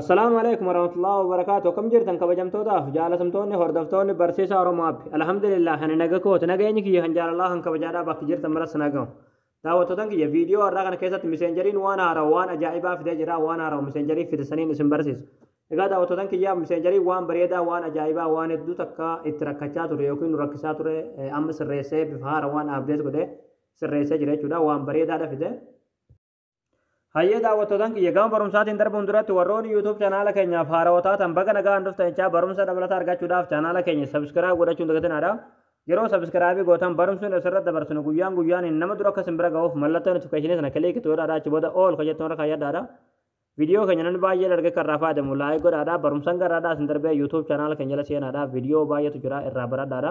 Assalaamu alaikum warahmatullahi wabarakaatu akkam jirtan kabajamtootaaf jaalatamtoonni hordoftoonni barsiisa Oromoo Appi alhamdulillah ani naga kooti nageenyi kiyya kan jaalalaa kan kabajaadhaa bakki jirtan maras nagahu daawwattootan kiyya viidiyoo har'aa kana keessatti miseenjeriin waan haarawa waan ajaa'ibaa fidee jira waan haarawa miseenjerii fide saniin isin barsiisa egaa daawwattootan kiyya miseenjerii waan bareedaa waan ajaa'ibaa waan hedduu takka itti rakkachaa ture yookiin nu rakkisaa ture amma sirreessee bifa haara waan abdeet godhe sirreessee jira jechuudha waan bareedaadha fide Hayyee daawwattootan kiyya gama barumsaatiin darbuun duratti warroonni YouTube chanaala keenyaaf haarawaa taatan baga nagaan dhuftan jechaa barumsa dabalataa argachuudhaaf chanaala keenya subscribe godhachuun dagatinaadha. Yeroo subscribe gootan barumsuun asirratti dabarsinu guyyaan guyyaaniin nama dura akka simbira ga'uuf mallattoo notification sana kiliik itti godhaadha achi booda all kan jettu irra kaayyadhaadha. Viidiyoo keenya namni baay'ee dargee kan irraa fayyadamu laayik godhaadha. Barumsan garaadhaa isin darbee YouTube chanaala keenya jala seenaadha. Viidiyoo baay'eetu jira irraa baradhaadha.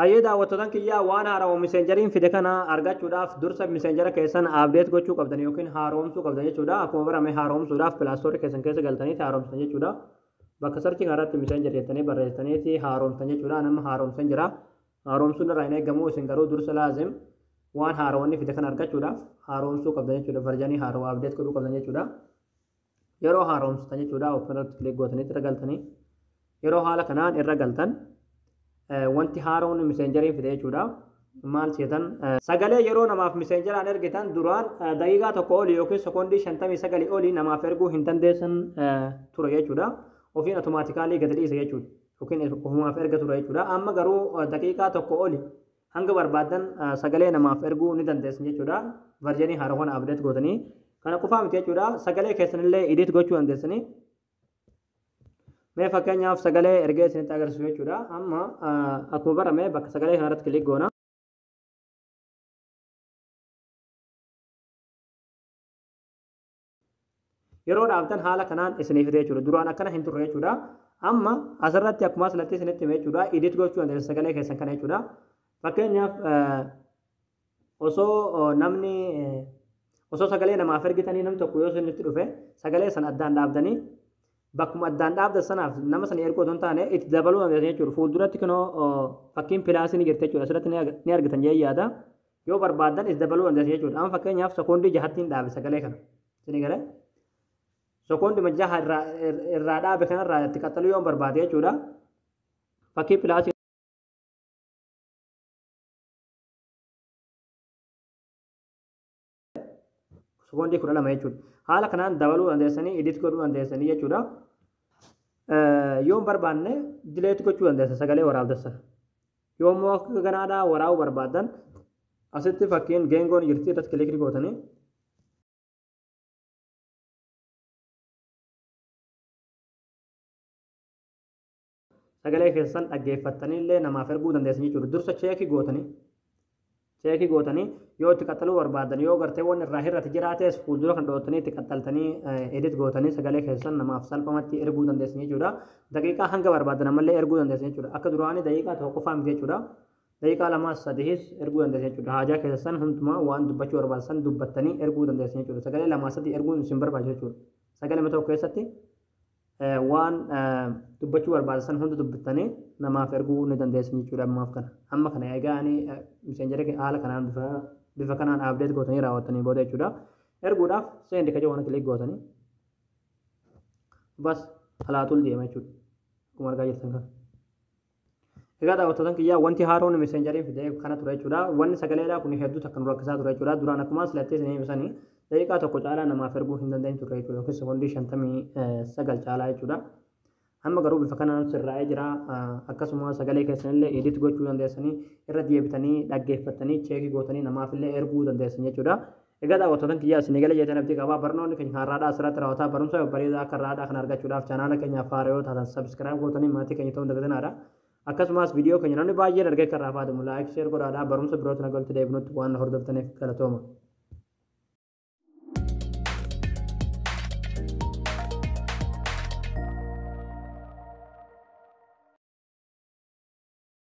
Hayyee daawwattotan kiyyaa waan haarawa miseenjariin fide kana argachuudhaaf dursa miseenjara keessan update gochuu qabdan yookiin haaroomsuu qabdan jechuudha akkuma barame haaroomsuudhaaf pilaastoorii keessan keessa galtaniiti haaroomsitan jechuudha bakka sarchi kanarratti miseenjar jettanii barreessitaniiti haaroomsitan jechuudha nama haaroomsan jira haaroomsuun irraa hin eegamu isin garuu dursa laazim waan haarawanni fide kana argachuudhaaf haaroomsuu qabdan jechuudha varjanii haarawa update godhuu qabdan jechuudha yeroo haaromsitan jechuudha open irratti click gootanii irra galtanii yeroo haala kanaan irra galtan wanti haaroon miseenjeriin fide jechuudha maal seetan sagalee yeroo namaaf miseenjeraan ergitan duraan daqiiqaa tokko olii yookiin sekoondii shantamii sagalii olii namaaf erguu hin dandeessan ture jechuudha ofiin automaatikaalii gadi dhiisa jechuudha yookiin ofumaaf erga ture jechuudha amma garuu daqiiqaa tokko olii Hanga barbaaddan sagalee namaaf erguu ni dandeessan jechuudha. Varjanii haara kana update gootanii. Kana qofaa miti jechuudha. Sagalee keessanillee edit gochuu dandeessanii. Mee fakkeenyaaf sagalee ergee isinitti agarsiisu jechuudha. Amma akkuma barame bakka sagalee kanarratti kilik goona. Yeroo dhaabdan haala kanaan isinii fide jechuudha. Duraan akkana hin turre jechuudha. Amma asirratti akkuma asirratti isinitti hime jechuudha. Edit gochuu dandeessu sagalee keessan kana jechuudha. Fakkeenyaaf osoo namni osoo sagalee namaaf ergitanii namni tokko yoo isinitti dhufe sagalee sana addaan dhaabdanii bakkuma addaan dhaabdan sanaaf nama sana erguu otoo hin taane itti dabaluu dandeessu jechuudha. Fuulduratti kunoo fakkiin pilaasii ni jirti jechuudha. Asirratti ni argitan jee yaada. Yoo barbaadan is dabaluu dandeessu jechuudha. Amma fakkeenyaaf sekoondii jahattiin dhaabe sagalee kana. Isinii galee? Sekoondi majjaha irraa irraa dhaabe kanarraa itti qaxxaluu yoo barbaade jechuudha. Fakkii pilaasii Sekoondii kudha lama jechuudha. Haala kanaan dabaluu dandeessanii edit godhuu dandeessanii jechuudha. Yoon barbaanne dileet gochuu dandeessa sagalee waraabdan sana. Yoon immoo akka ganaadhaa waraabuu barbaadan asitti fakkiin geengoon jirti irratti kilikii gootanii sagalee keessan dhaggeeffattanii illee namaaf erguu dandeessan jechuudha. Dursa cheekii gootanii cheekii gootanii yoo itti qaxxaluu barbaadan yoo gartee waan irraa hir'ate jiraates fuuldura kan dhootanii itti qaxxaltanii edit gootanii sagalee keessan namaaf salphamatti erguu dandeessan jechuudha. Daqiiqaa hanga barbaadan ammallee erguu dandeessan jechuudha. Akka duraanii daqiiqaa tokko qofaa miti jechuudha. Daqiiqaa lamaa sadiis erguu dandeessan jechuudha. Haajaa keessan hundumaa waan dubbachuu barbaadan dubbattanii erguu dandeessan jechuudha. Sagalee lamaa sadii erguun isin barbaachisa jechuudha. Sagalee tokko keessatti Waan dubbachuu barbaada san hunda dubbittanii namaaf erguu ni dandeessan jechuudha ammaaf kana. Amma kana egaa ani miseenjera kee haala kanaan bifa bifa kanaan update gootanii raawwattanii booda jechuudha. Erguudhaaf send ka jedhu kana click gootanii bas alaatul deema jechuudha. Akkuma argaa jirtan kana. Egaa daawwattootan kiyyaa wanti haaroon messengerin fidee kana ture jechuudha. Wanni sagaleedhaa kun hedduu takka nu rakkisaa ture jechuudha. Duraan akkuma silattee isin hime sani daqiiqaa tokko caalaa namaaf erguu hin dandeenyu turre jechuudha. Yookiin sekondii shantamii sagal caalaa jechuudha. Amma garuu bifa kanaan sirraa'ee jira. Akkasuma sagalee keessanillee edit gochuu dandeessanii irra deebitanii dhaggeeffattanii cheekii gootanii namaafillee erguu dandeessan jechuudha. Egaa daawwattootan kiyyaa isin eegale jeeteen abdii qaba. Barnoonni keenya kan har'aadhaa asirratti raawwataa barumsa babbareedaa akka har'aadhaa kana argachuudhaaf chaanaala keenyaaf haaraa yoo taatan subscribe gootanii maatii keenya ta'uun dagatinaadha. Akkasumas viidiyoo keenya namni baay'een argee kan irraa fayyadamu like share godhaadhaa barumsa birootiin akka walitti deebinutti waan hordoftaniif galatooma.